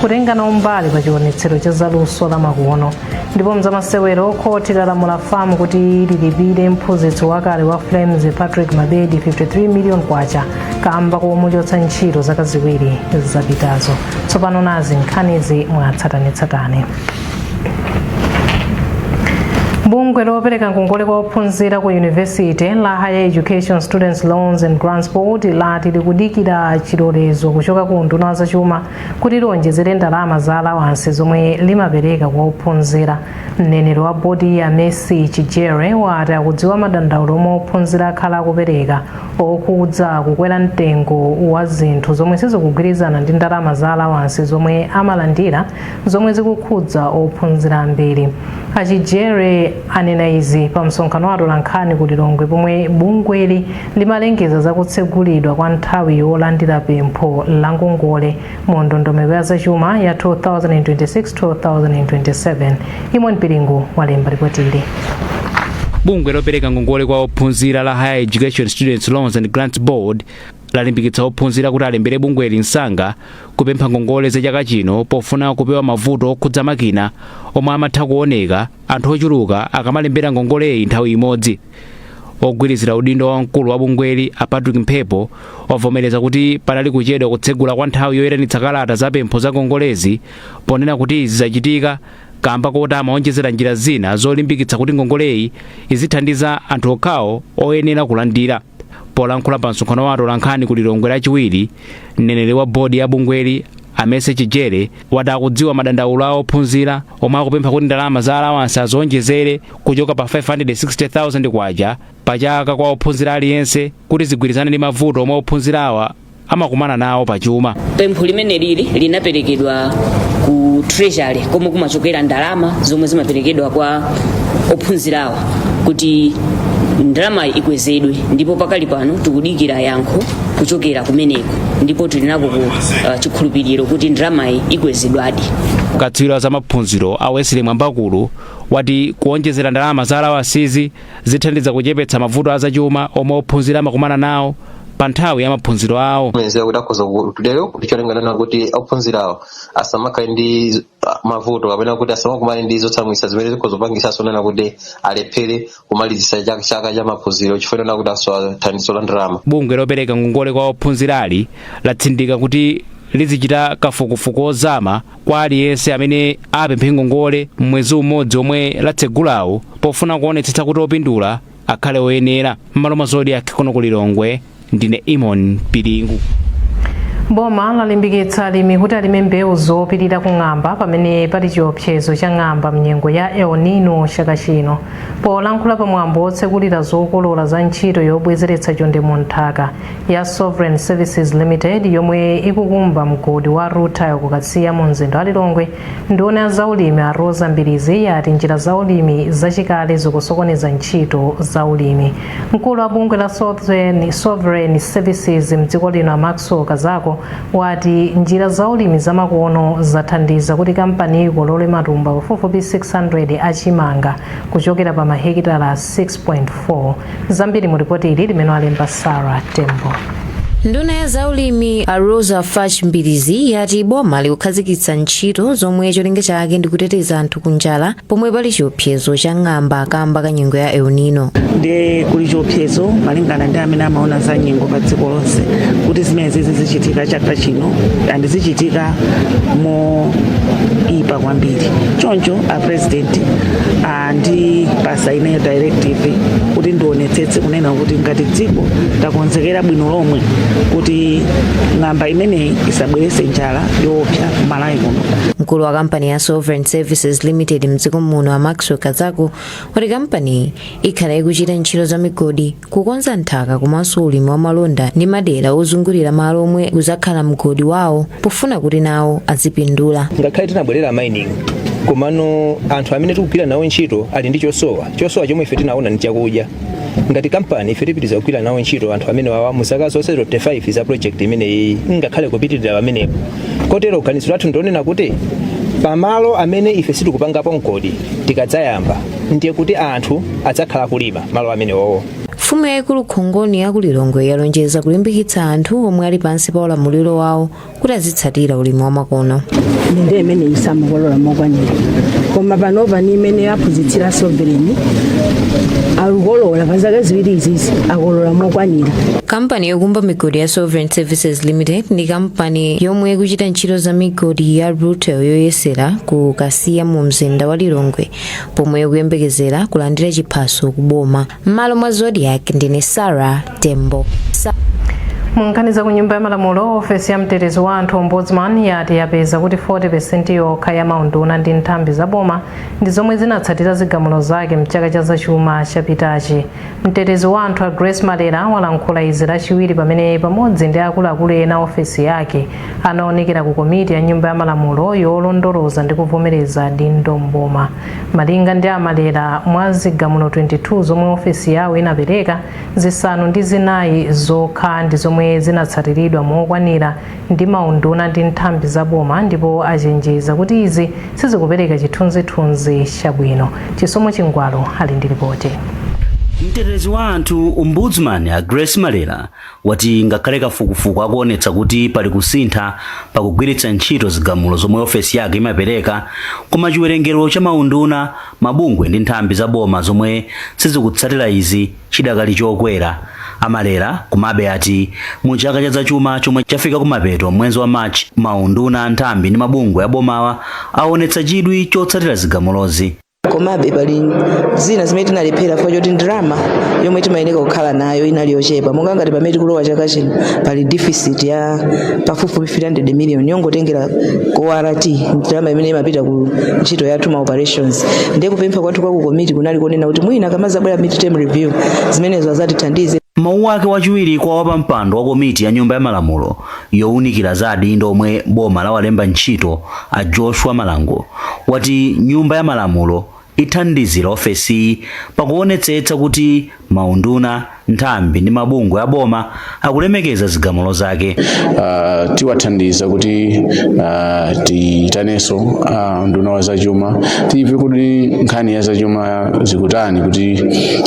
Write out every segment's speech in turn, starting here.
kutenga nawo mbali pa chionetsero cha zaluso la makono ndipo mzamasewero khoti lalamula fam kuti lilipire mphunzitsi wakale wa flames patrick mabedi 53 million kwacha kamba komuchotsa ntchito zaka ziwiri zapitazo tsopano nazi nkhanizi mwatsatanetsatane bungwe lopereka ngongole kwa ophunzira ku yunivesite la higher education students loans and grants board lati likudikira chilolezo kuchoka ku unduna wa zachuma kuti liwonjezere ndalama za alawansi zomwe limapereka kwa ophunzira. Mneneri wa bodiyi a Mercy Chijere wati akudziwa madandaulo omwe ophunzira akhala akupereka okhudza kukwera mtengo wa zinthu zomwe sizikugwirizana ndi ndalama za alawansi zomwe amalandira zomwe zikukhudza ophunzira ambiri. A Chijere anena izi pamsonkhano wa atolankhani ku Lilongwe pomwe bungweli Limalengeza za kutsegulidwa kwa nthawi yolandira pempho la ngongole mu ndondomeko ya zachuma ya 2026-2027. Eamon Piringu walemba lipotili. bungwe lopereka ngongole kwa ophunzira la higher education students loans and grants board lalimbikitsa ophunzira kuti alembere bungweli msanga kupempha ngongole za chaka chino pofuna kupewa mavuto okhudza makina omwe amatha kuoneka anthu ochuluka akamalembera ngongoleyi nthawi imodzi ogwirizira udindo wa mkulu wa bungweli a patrick mphepo wavomereza kuti panali kuchedwa kutsegula kwa nthawi yoyitanitsa kalata za pempho za ngongolezi ponena kuti izi zachitika kamba koti amaonjezera njira zina zolimbikitsa kuti ngongoleyi izithandiza anthu okhawo oyenera kulandira polankhula pa msonkhano wa atolankhani ku lilongwe lachiwiri mneneri wa bodi ya bungweli a mercy chijere wati akudziwa madandaulo a ophunzira omwe akupempha kuti ndalama za alawansi aziwonjezere kuchoka pa 560,000 kwacha pa chaka kwa ophunzira aliyense kuti zigwirizane ndi mavuto omwe ophunzirawa amakumana nawo pa chuma pempho limeneli linaperekedwa ku treasury komwe kumachokera ndalama zomwe zimaperekedwa kwa ophunzirawa kuti ndalamayi ikwezedwe ndipo pakali pano tikudikira yankho kuchokera kumeneko ndipo tili nako ku uh, chikhulupiriro kuti ndalamayi ikwezedwadi katswiri wa za maphunziro a wesley mwambakulu wati kuonjezera ndalama za alawansizi zithandiza kuchepetsa mavuto azachuma omwe ophunzira amakumana nawo pa nthawi ya maphunziro awo mwenzewa kuti akhoza kutero kuti cholinga nonena kuti ophunzirawo asamakhale ndi mavuto kapena kuti asamakumane ndi zotsamwitsa zimene zikhoza kupangisanso nonena kuti alephere kumalizitsa chaka cha maphunziro chifukwa chonena kuti asowa thandizo la ndalama bungwe lopereka ngongole kwa ophunzirali latsindika kuti lizichita kafukufuku ozama kwa aliyense amene apemphe ngongole m'mwezi umodzi omwe latsegulawo pofuna kuonetsetsa kuti opindula akhale oyenera mmalo mwa zodiac kuno ku lilongwe ndine imon piringu boma lalimbikitsa alimi kuti alime mbewu zopirira ku ng'amba pamene pali chiopsezo cha ng'amba mnyengo ya el nino chaka chino polankhula pa mwambo wotsekulira zokolola za ntchito yobwezeretsa chonde mu nthaka ya sovereign services limited yomwe ikukumba mgodi wa rutile kukasiya mu mzinda wa lilongwe Nduna ya zaulimi a Roza Mbilizi yati njira za ulimi zachikale zikusokoneza ntchito za ulimi. Mkulu wa bungwe la Sovereign Services mdziko lino a Maxwell Kazako wati njira za ulimi zamakono zathandiza kuti kampaniyi ikolole matumba pafupifupi 600 a chimanga kuchokera pa mahekitala 6.4. Zambiri mu ripoti ili limene walemba Sarah Tembo. Nduna ya zaulimi a Roza Fatch Mbilizi yati boma likukhazikitsa ntchito zomwe cholinga chake ndi kuteteza anthu ku njala pomwe pali chiopsezo cha ng'amba kamba ka nyengo ya El Nino. ndiye kuli chiopsezo malingana ndi amene amaona za nyengo pa dziko lonse kuti zimenezi zichitika chaka chino and zichitika moipa kwambiri choncho a president andipasa ineyo directive kuti ndionetsetse kunena kuti ngati dziko takonzekera bwino lomwe kuti ng'amba imeneyi isabwerese njala yoopsa kumalawi kuno mkulu wa kampani ya sovereign services limited mdziko muno a maxwell kazako wati kampaniyi ikhala ikuchita ntchito za migodi kukonza nthaka komanso ulimi wa malonda ndi madera ozungulira malo omwe kuzakhala mgodi wawo pofuna kuti nawo azipindula ngakhale tinabwerera mining komano anthu amene tikugwira nawo ntchito ali ndi chosowa chosowa chomwe ife tinaona ndi chakudya ngati kampani ife tipitiriza kugwira nawo ntchito anthu amenewawa mu zaka zonse 25 za project imeneyi ngakhale kupitirira pamenepo kotero ganizo lathu ndi lonena kuti pamalo amene ife sitikupangapo mgodi tikadzayamba ndiye kuti anthu adzakhala kulima malo amenewowo mfumu yayikulu khongoni ya ku lilongwe yalonjeza kulimbikitsa anthu omwe ali pansi pa ulamuliro wawo kuti azitsatira ulimi wamakono nde mmene samakolola mokwanira koma panopa ndi mmene yaphunzitsira sovereign akukolola pa zaka ziwiri izizi akolola mokwanira kampani yokumba migodi ya sovereign services limited ndi kampani yomwe ikuchita ntchito za migodi ya rutile yoyesera ku kasiya mu mzinda wa lilongwe pomwe ikuyembekezera kulandira chiphaso ku boma m'malo mwa zodiak ndine sara tembo munkhani za ku nyumba ya malamulo ofesi ya mtetezi wa anthu ombudsman yati yapeza kuti 40% yokha ya maunduna ndi nthambi za boma ndi zomwe zinatsatira zigamulo zake mchaka cha zachuma chapitachi mtetezi wa anthu a grace malera walankhula izi lachiwiri pamene pamodzi ndi akuluakulu ena a ofesi yake anaonekera ku komiti ya nyumba ya malamulo yolondoloza ndi kuvomereza dindo mboma malinga ndi a malera mwa zigamulo 22 zomwe ofesi yawo inapereka zisanu ndi zinayi zokha ndi zomwe zinatsatiridwa mokwanira ndi maunduna ndi nthambi za boma ndipo achenjeza kuti izi sizikupereka chithunzithunzi chabwino chisomo chingwalu ali ndi lipoti mtetezi wa anthu ombudsman a grace malera wati ngakhale kafukufuku akuonetsa kuti pali kusintha pa kugwiritsa ntchito zigamulo zomwe ofesi yake imapereka, koma chiwerengero cha maunduna, mabungwe ndi nthambi za boma zomwe sizikutsatira izi chidakali chokwera. A Malera komabe ati mu chaka cha zachuma chomwe chafika kumapeto m'mwenzi wa March, maunduna, nthambi ndi mabungwe abomawa awonetsa chidwi chotsatira zigamulozi. komabe pali zina zimene tinalephera chifukwa choti ndalama yomwe timayenera kukhala nayo inali yochepa monga ngati pamene tikulowa chaka chino pali deficit ya pafupifupi 300 million yongotengera ku ort ndalama imene imapita ku ntchito yathu ma operations ndiye kupempha kwathu kwa ku komiti kunali konena kuti mwina akamazabwera mid term review zimenezo azatithandize m'mawu ake wachiwiri kwa wapampando wa komiti ya nyumba ya malamulo younikira za adindo omwe boma lawalemba ntchito a Joshua Malango wati Nyumba ya Malamulo ithandizira ofesiyi pakuonetsetsa kuti maunduna, nthambi ndi mabungwe a boma akulemekeza zigamulo zake. Uh, tiwathandiza kuti uh, tiitanenso a unduna wa zachuma timve kuti nkhani ya zachuma uh, zikutani kuti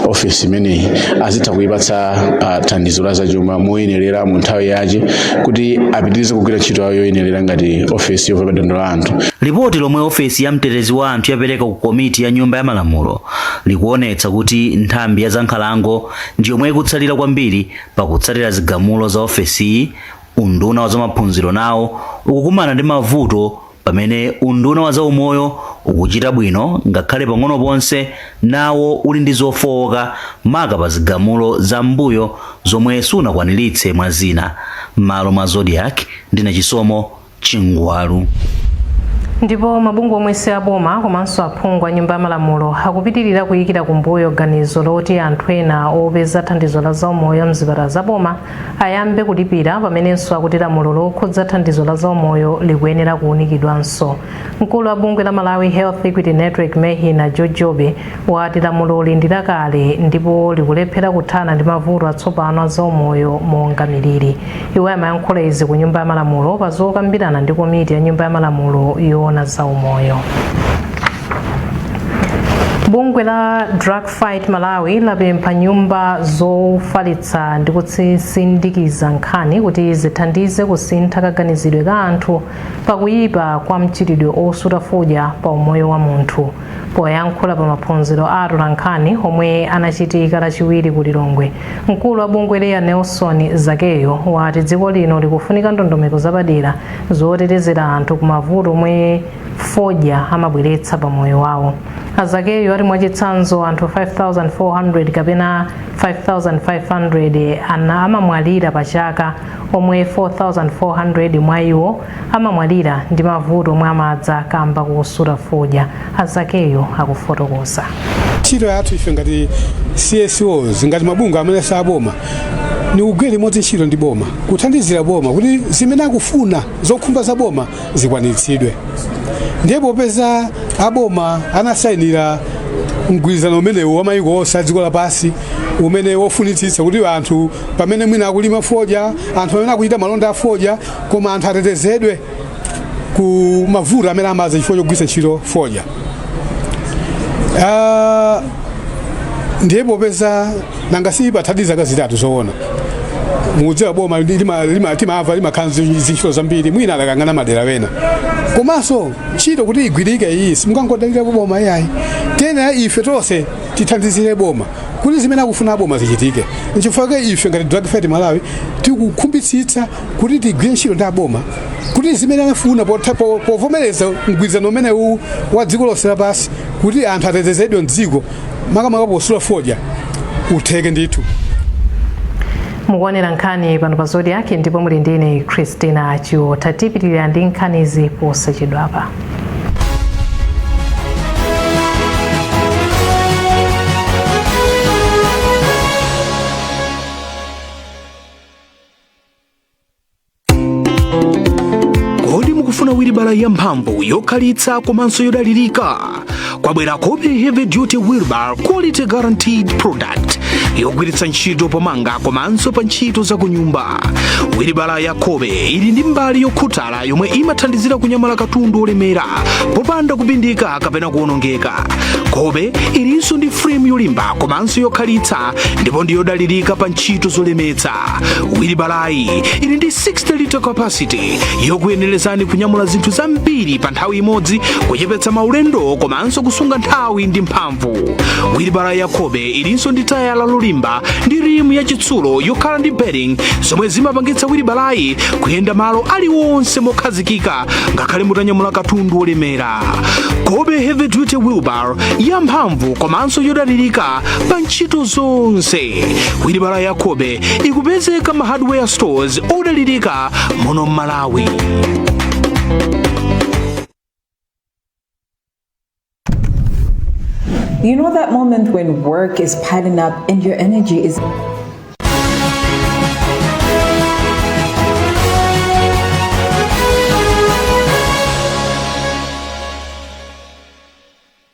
ofesi imeneyi azitha kuipatsa uh, thandizo la zachuma moyenerera mu nthawi yache kuti apitirize kugwira ntchito yawo yoyenerera ngati ofesi yomva madandaulo a anthu lipoti lomwe ofesi ya mtetezi wa anthu yapereka ku komiti ya nyumba ya malamulo likuonetsa kuti nthambi ya zankhalango ndi yomwe ikutsalira kwambiri pakutsatira zigamulo za ofesiyi unduna wa zamaphunziro nawo ukukumana ndi mavuto pamene unduna wa zaumoyo ukuchita bwino ngakhale pang'ono ponse nawo uli ndi zofowoka maka pa zigamulo za m'mbuyo zomwe sunakwaniritse mwa zina m'malo mwa zodiak ndine chisomo chingwalu ndipo mabungwe omwe si aboma komanso aphungu a nyumba ya malamulo akupitirira kuyikira kumbuyo ganizo loti anthu ena opeza thandizo la zaumoyo mzipatala za boma ayambe kulipira pamenenso akuti lamulo lokhudza thandizo la zaumoyo likuyenera kuunikidwanso. Mkulu wa bungwe la Malawi Health Equity Network MHEN a George Jobe wati lamuloli ndi lakale ndipo likulephera kuthana ndi mavuto atsopano a zaumoyo monga miliri. Iwo amayankhula izi ku Nyumba ya Malamulo pa zokambirana ndi komiti ya Nyumba ya Malamulo yoona zaumoyo. Bungwe la Drug Fight Malawi lapempha nyumba zofalitsa ndi kutsindikiza nkhani kuti zithandize kusintha kaganizidwe ka anthu pakuyipa kwa mchitidwe osuta fodya pa umoyo wa munthu. Poyankhula pa maphunziro a atolankhani omwe anachitika lachiwiri ku Lilongwe, mkulu wa bungweli a Nelson Zakeyu wati dziko lino likufunika ndondomeko zapadera zotetezera anthu kumavuto omwe fodya amabweretsa pa moyo wawo a zakeyu ati mwachitsanzo anthu 5400 kapena 5500 amamwalira pa chaka omwe 4400 mwa iwo amamwalira ndi mavuto omwe amadza kamba kosuta fodya a zakeyu akufotokoza ntchito yathu ife ngati csos ngati mabungwe amene si aboma ni kugwira limodzi ntchito ndi boma kuthandizira boma kuti zimene akufuna zokhumba za boma zikwaniritsidwe ndiye popeza aboma anasayinira mgwirizano umenewu wa mayiko onse a dziko lapansi umene wofunitsitsa kuti anthu pamene mwina akulima fodya anthu pamene akuchita malonda a fodya koma anthu atetezedwe ku mavuto amene amadza chifukwa chogwiritsa ntchito fodya Ah, ndiye popeza nanga sipathadi zaka zitatu zoona mukudziwa boma ndi- lima- lima- timava limakhala ndi zintchito zambiri mwina adakayang'ana madera wena komanso ntchito kuti igwirike iyi simungangodalira boma iyayi tiyenera ife tonse tithandizire boma kuti zimene akufuna boma zichitike nchifukwa chake ife ngati drug fight malawi tikukhumbitsitsa kuti tigwire ntchito ndi aboma kuti zimene anafuna potha- po- povomereza mgwirizano umenewu wa dziko lonse lapansi kuti anthu atetezedwe mdziko makamaka posuta fodya utheke ndithu mukuonera nkhani pano pa zodiak ndipo muli ndi ine christina chiota tipitirira ndi nkhanizi posachedwapa kodi mukufuna wilibala yamphamvu yokhalitsa komanso yodalirika kwabwera kobe heavy duty wheelbarrow quality guaranteed product yogwiritsa ntchito pomanga komanso pa ntchito za kunyumba wilibala ya kobe ili ndi mbali yokhuthala yomwe imathandizira kunyamula katundu olemera popanda kupindika kapena kuonongeka kobe ilinso ndi frame yolimba komanso yokhalitsa ndipo ndi yodalirika pa ntchito zolemetsa wilibalayi ili ndi 60 liter capacity yokuyenerezani kunyamula zinthu zambiri pa nthawi imodzi kuchepetsa maulendo komanso kusunga nthawi ndi mphamvu wilibala ya kobe ilinso ndi tayala lolimba ndi rimu ya chitsulo yokhala ndi bearing zomwe zimapangitsa wilibalayi kuyenda malo aliwonse mokhazikika ngakhale mutanyamula katundu wolemera kobe heavy duty wheelbarrow ya mphamvu komanso yodalirika pa ntchito zonse wilibala ya kobe ikupezeka m'ma hardware stores odalirika muno m'malawi You know that moment when work is piling up and your energy is.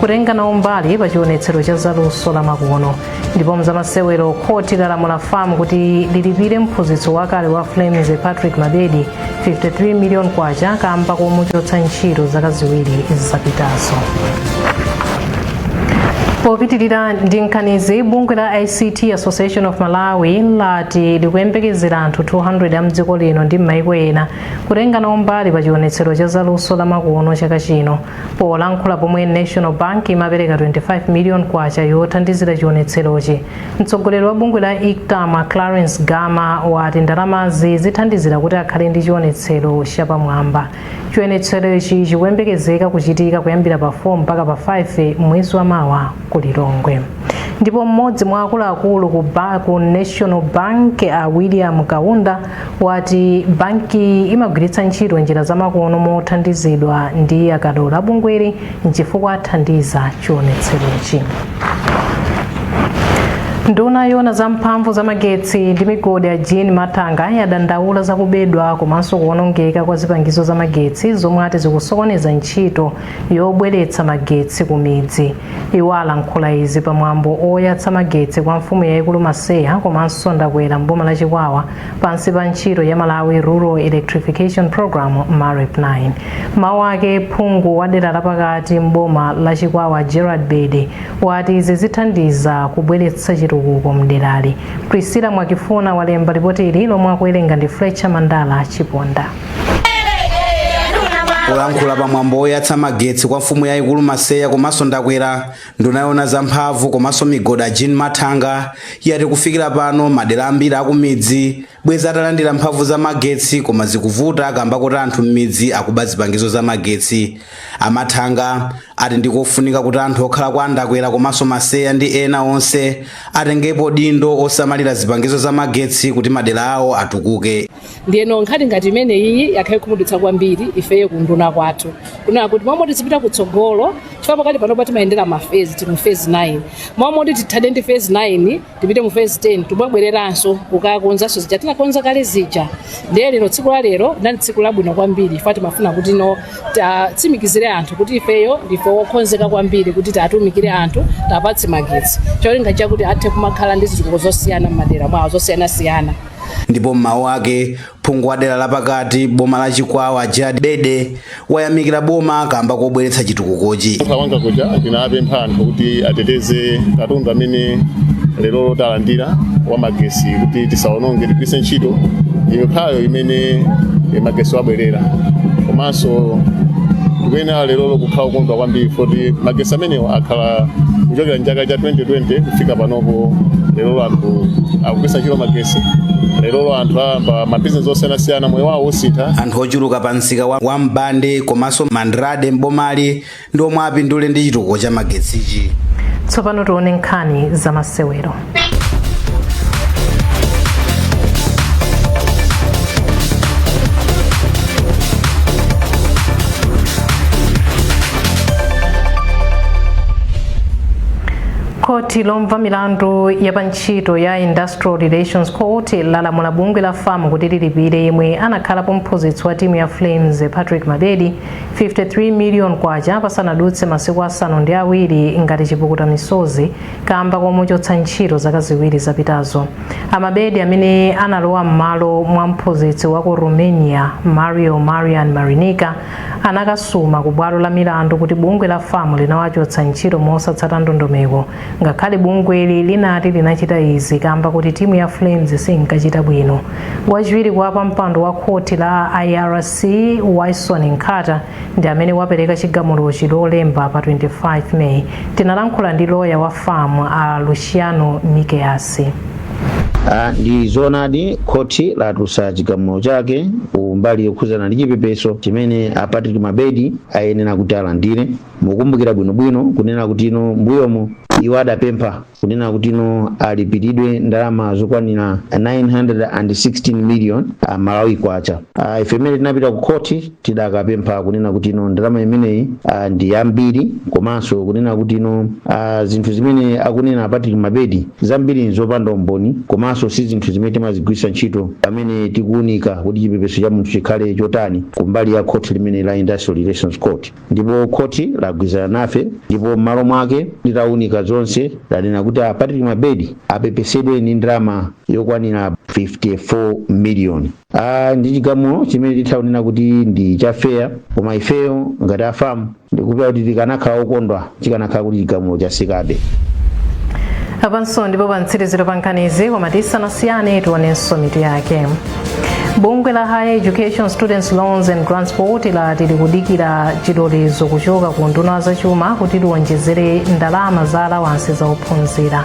kutenga nawo mbali pa chionetsero cha zaluso la makono ndipo m'zamasewero khoti lalamula fam kuti lilipire mphunzitsi wakale wa flames patrick mabedi 53 million kwacha kamba komuchotsa ntchito zaka ziwiri zapitazo popitirira ndi nkhanizi bungwe la ict association of malawi lati likuyembekezera anthu 200 a m'dziko lino ndi m'maiko ena kutenga nawo mbali pa chionetsero cha zaluso la makono chaka chino Polankhula pomwe National Bank imapereka 25 million kwacha yothandizira chionetserochi, mtsogoleri wa bungwe la Ictam a Clarence Gama wati ndalamazi zithandizira kuti akhale ndi chionetsero chapamwamba. Chionetserochi chikuyembekezeka kuchitika kuyambira pa 4 mpaka pa 5 mwezi wa mawa ku Lilongwe. Ndipo mmodzi mwa akuluakulu ku National Bank a William Kaunda wati bankiyi imagwiritsa ntchito njira zamakono mothandizidwa ndi akadolo a bungweli nchifukwa athandiza chionetserochi nduna yoona za mphamvu za magetsi ndi migodi a jean mathanga yadandaula za kubedwa komanso kuwonongeka kwa zipangizo za magetsi zomwe ati zikusokoneza ntchito yobweretsa magetsi ku midzi Iwo alankhula izi pa mwambo oyatsa magetsi kwa mfumu yaikulu Maseya komanso Ndakwera m'boma la Chikwawa pansi pa ntchito ya Malawi Rural Electrification Programme, Marep 9. M'mawu ake, phungu wa dera lapakati m'boma la Chikwawa Gerald Bede wati izi zithandiza kubweretsa chitukuko m'derali. Priscilla Mwakifuna walemba lipotili lomwe akuwerenga ndi Fletcher Mandala Chiponda. polankhula pa mwambo woyatsa magetsi kwa mfumu yayikulu maseya komanso ndakwera nduna yoona za mphamvu komanso migodi a jean mathanga yati kufikira pano madera ambiri akumidzi bwezi atalandira mphamvu za magetsi koma zikuvuta kamba koti anthu m'midzi akuba zipangizo za magetsi a mathanga ati ndikofunika kuti anthu okhala kwa ndakwera komanso maseya ndi ena onse atengepo udindo osamalira zipangizo za magetsi kuti madera awo atukuke ndiyeno nkhani ngati imeneyiyi yakhala ikutikhudza kwambiri ifeyo ku unduna kwathu kunena kuti mmalo moti tizipita kutsogolo chifukwa pakati panopa timayendera mafezi tili mu fezi 9 mmalo moti tithane ndi fezi 9 tipite mu fezi 10 tikubwereranso kukakonzanso zija tinakonza kale zija ndiye lero tsiku la lero ndi tsiku labwino kwambiri chifukwa timafuna kuti tiwatsimikizire anthu kuti ifeyo ndife wokonzeka kwambiri kuti tiwatumikire anthu tiwapatse magetsi cholinga chakuti athe kumakhala ndi zitukuko zosiyana m'madera mwawo zosiyanasiyana Ndipo m'mawu ake, phungu wa dera la pakati m'boma la Chikwawa Gerald Bede wayamikira boma kamba kobweretsa chitukukochi. Kwanga kuja tinapempha anthu kuti ateteze katundu amene lero talandira wa magesi kuti tisaononge tigwiritse ntchito imeneyo imene eh, magesi wabwerera komanso tikuyenera lero kukhala okondwa kwambiri kuti magesi amenewa akhala kuchokera mchaka cha 2020 kufika panopo lero anthu akugwiritsa ntchito magesi lero anthu ayamba mabizinesi osiyanasiyana moyo wawo usintha anthu ochuluka pa msika wa mbande komanso mandrade mbomali ndi omwe apindule ndi chitukuko cha magetsichi tsopano tione nkhani za masewero khoti lomva milandu ya pa ntchito ya industrial relations court lalamula bungwe la fam kuti lilipire yemwe anakhalapo mphunzitsi wa timu ya flames patrick mabedi 53 million kwacha pasanadutse masiku asanu ndi awiri ngati chipukuta misozi kamba komuchotsa ntchito zaka ziwiri zapitazo a mabedi amene analowa m'malo mwa mphunzitsi wa ku romania mario marian marinica anakasuma ku bwalo la milandu kuti bungwe la fam linawachotsa ntchito mosatsata ndondomeko ngakhale bungweli linati linachita izi kamba koti timu ya flames sinkachita bwino wachiwiri kwa pampando wa khoti la irc wyson nkhata ndi amene wapereka chigamulochi lolemba pa 25 may tinalankhula ndi loya wa fam a luciano mickeus Ah, ndi zoonadi khoti latulutsa chigamulo chake ku mbali yokhuzana ndi chipepeso chimene a Patrick Mabedi ayenera kuti alandire mukumbukira bwinobwino kunena kuti ino mbuyomo iwo adapempha kunena kuti ino alipiridwe ndalama zokwanira 916 million Malawi kwacha ah, ife imene tinapita ku khoti tidakapempha kunena kuti ino ndalama imeneyi ah, ndi yambiri komanso kunena kuti ino ah, zinthu zimene akunena a Patrick Mabedi zambiri nzopanda umboni komanso si zinthu zimene timazigwiritsa ntchito pamene tikuunika kuti chipepeso cha munthu chikhale chotani kumbali ya khoti limene la Industrial Relations Court ndipo khoti lagwirizana nafe ndipo m'malo mwake litaunika zonse lanena kuti a Patrick Mabedi apepesedwe ndi ndalama yokwanira 54 miliyoni Ah, ndi chigamulo chimene titha kunena kuti ndi cha fair koma ifeyo ngati a FAM ndikupeza kuti tikanakhala okondwa chikanakhala kuti chigamulo chatsikabe apanso ndipo pamtsiriziro pa nkhanizi koma tisanasiyane tionenso mitu yake bungwe la higher education students loans and grants board lati likudikira chilolezo kuchoka ku nduna ya zachuma kuti liwonjezere ndalama za alawansi za ophunzira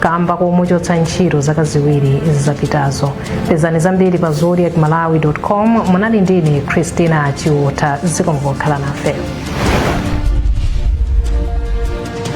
kamba komuchotsa ntchito zaka ziwiri zapitazo pezani zambiri pa zodiak malawi com munali ndine christina chiotha zikomo pokhala nafe